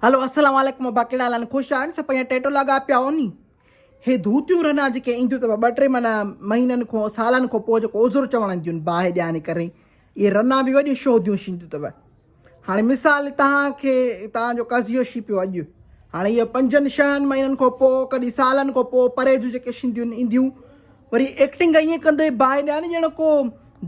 هلو السلام عليڪم ابا ڪهڙا حال آهن خوش آهن سڀ پنهنجا ٽيٽو لاڳا پيا هو ني هي ڌوتيون رنا جيڪي اينديون اٿو ٻه ٽي مانا مهينن کون سالن کون پوء جيڪو عذر چوڻ اينديون باهه ڏيان ڪري اهي رنا به وڏيون شوهديون شينديون اٿو هاڻي مثال تهان کي تهان جو قضيو شي پيو اڄ هاڻي اهي پنجن شهن مهينن کون پوء ڪڏهن سالن کون پوء پري جون جيڪي شينديون اينديون وري ايڪٽنگ ائين ڪندو باهه ڏيان ڄڻ ڪو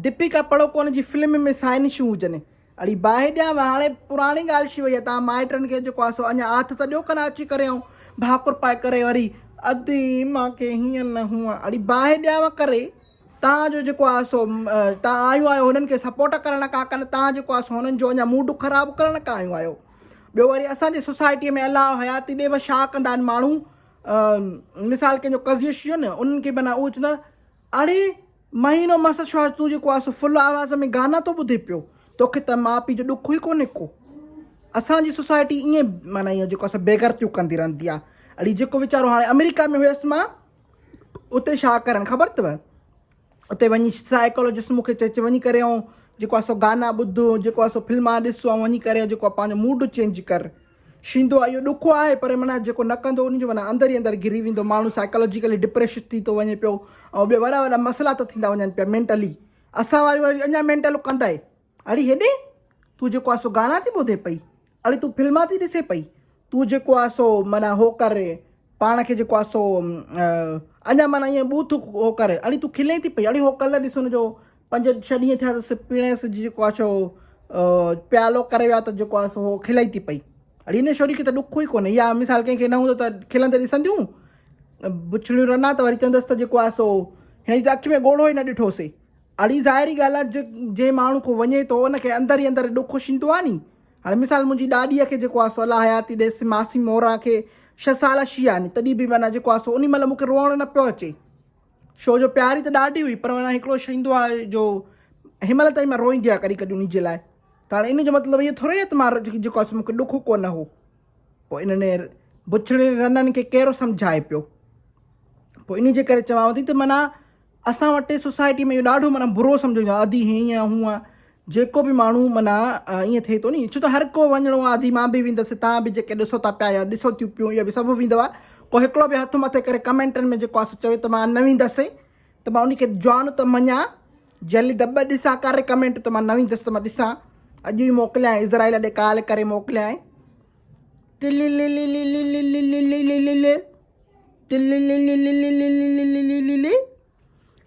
ديپيڪا پڙوڪون جي فلم ۾ سائنشون هجن اڙي باهه ڏيان وا هاڻي پراڻي ڳالهه ڇي وئي آهي توهان مائٽن کي جيڪو آهي سو اڃا آٿ ته ڏيو ڪن اچي ڪري ائون ڀاڪر پائي ڪري وري ادي مان کي هيئن نه هونئن اڙي باهه ڏيان وا ڪري توهان جو جيڪو آهي سو توهان آيون آهيو هنن کي سپورٽ ڪرڻ ڪا ڪن توهان جيڪو آهي سو هنن جو اڃا موڊ خراب ڪرڻ ڪا آيون آهيو ٻيو وري اسان جي سوسائٽي ۾ الله حياتي ڏي وا ڇا ڪندا آهن ماڻهو مثال ڪنهن جو قضيو شيو نه انهن کي بنا اوچ نه اڙي مهينو مس شوهر تون جيڪو آهي سو فل آواز ۾ گانا ٿو ٻڌي پيو توکي ته ماء پيء جو ڏک ئي ڪونهي ڪو اسان جي سوسائٽي ائين معنيٰ ائين جيڪو اسان بيغرتيون ڪندي رهندي آهي اڙي جيڪو ويچارو هاڻي آمريڪا ۾ هيس مان اتي شا ڪرن خبر اٿو اتي وڃي سائيڪولوجسٽ مونکي چي چي وڃي ڪري آئون جيڪو اسو گانا ٻڌو جيڪو اسو فلما ڏسو وڃي ڪري جيڪو پنهنجو موڊ چينج ڪر شيندو آهي اهو ڏکو آهي پر معنيٰ جيڪو نه ڪندو ان جو معنيٰ اندر ئي اندر گري ويندو ماڻهو سائيڪالاجيڪلي ڊپريشڊ ٿي ٿو وڃي پيو ۽ ٻيا وڏا وڏا مسئلا ته ٿيندا وڃن پيا مينٽلي اسان واري وري اڃا مينٽل ڪندائي اڙي هيڏي تون جيڪو آهي سو گانا ٿي ٻڌي پئي اڙي تون فلما ٿي ڏسي پئي تون جيڪو آهي سو معنيٰ هو ڪر پاڻ کي جيڪو آهي سو اڃا معنيٰ ائين ٻوٿ هو ڪر اڙي تون کلين ٿي پئي اڙي هو ڪلر ڏس ان جو پنج ڇهه ڏينهن ٿيا اٿس پيڻي سج جيڪو آهي سو پيالو ڪري ويا ته جيڪو آهي سو کلائي ٿي پئي اڙي هن شوري کي ته ڏک ئي ڪونهي يا مثال ڪنهن کي نه هوندو ته کلندي ڏسنديون بڇڙيون رنا ته وري چوندس ته جيڪو آهي سو هن جي ته اک ۾ ڳوڙهو ئي نه ڏٺوسي اڙي ظاهري ڳالھ آهي جي جنهن ماڻهو کو وڃي ٿو ان کي اندر ئي اندر ڏک اشيندو آهي ني هاڻي مثال منهنجي ڏاڏيء کي جيڪو آهي سو الله حياتي ڏيس ماسي موران کي ڇهه سال شي آهي ني تڏهن به معنيٰ جيڪو آهي سو انهي مهل مون کي روئڻ نه پيو اچي شو جو پياري ته ڏاڍي هئي پر هاڻي هڪڙو شيندو آهي جو هن مهل تائين مان روئيندي آهيان ڪڏهن ڪڏهن انهي جي لاء ته هاڻي ان جو مطلب اهو ٿوري آهي ته مان جيڪو آهي سو مونکي ڏک ڪو نه هو پوء انهن بڇڙين رنن کي ڪير سمجهائي پيو پوء انهي جي ڪري چوان ٿي ته معنيٰ اسان وٽ سوسائٽي ۾ اهو ڏاڍو معنيٰ برو سمجهيو ويندو آهي ادي هيئن هونئن جيڪو به ماڻهو معنيٰ ائين ٿئي ٿو ني ڇو ته هر ڪو وڃڻو آهي ادي مان به ويندس توهان به جيڪي ڏسو ٿا پيا يا ڏسو ٿيون پيون اهي به سڀ ويندوا ڪو هڪڙو به هٿ مٿي ڪري ڪمينٽن ۾ جيڪو آهي سو چوي ته مان نه ويندس ته مان ان کي جوان ته مڃان جلد ٻه ڏسان ڪري ڪمينٽ ته مان نه ويندس ته مان ڏسان اڄ ئي موڪليان اسرائيل ڏي ڪال ڪري موڪليان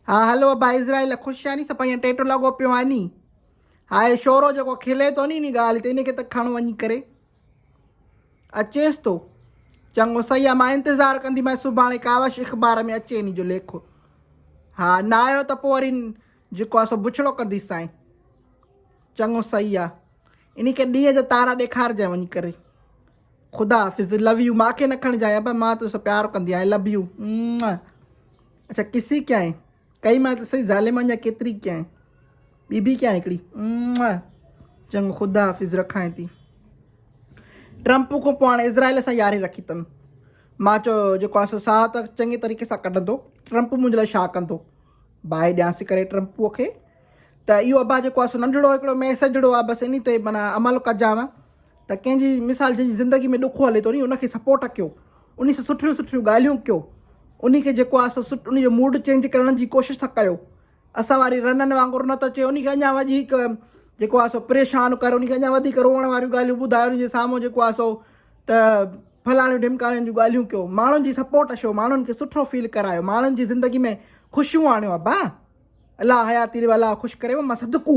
ها هلو ابا اسرائيل خوش آني سڀ ائين ٽيٽو لڳو پيو آني ها هي شورو جيڪو کلي ٿو ني اني ڳالهه تي ان کي ته کڻ وڃي ڪري اچيس ٿو چڱو سهي آ مان انتظار ڪندي مان سڀاڻي ڪاوش اخبار ۾ اچي اني جو ليکو ها نه آيو ته پوء وري جيڪو آ سو بڇڙو ڪنديس سائين چڱو سهي آ اني کي ڏينهن جو تارا ڏيکارجي وڃي ڪري خدا حافظ لو يو ماکي نه کڻجاء ابا مان تو سو پيار ڪندي آهي لو يو اڇا ڪسي ڪيائين ڪئي مان ته سهي ظالم اڃا ڪيتري ڪيائين ٻي به ڪيائين هڪڙي چڱو خدا حافظ رکائين ٿي ٽرمپ کان پوء هاڻي اسرائيل سان ياري رکي اٿم مان چو جيڪو آسو ساهه ته چڱي طريقي سان ڪڍندو ٽرمپ منهنجي لاء ڇا ڪندو باهه ڏيانسي ڪري ٽرمپ کي ته اهو ابا جيڪو آسو ننڍڙو هڪڙو ميسجڙو آ بس اني تي معنی عمل ڪجان ته ڪنهن جي مثال جنهن جي زندگي ۾ ڏکو هلي ٿو ني ان کي سپورٽ ڪيو انهي سان سٺيون سٺيون ڳالهيون ڪيو انهي کي جيڪو آهي سو انهي جو موڊ چينج ڪرڻ جي ڪوشش ٿا ڪيو اسان واري رنن وانگر نه ته چي انهي کي اڃا وڌيڪ جيڪو آهي سو پريشان ڪر انهي کي اڃا وڌيڪ روئڻ واريون ڳالهيون ٻڌاء انهي جي سامهون جيڪو آهي سو ته ڦلاڻيون ڍمڪاڻين جون ڳالهيون ڪيو ماڻهن جي سپورٽ شو ماڻهن کي سٺو فيل ڪرايو ماڻهن جي زندگي ۾ خوشيون آڻيو ابا الله حياتي ڏيو الله خوش ڪريو مان صدقو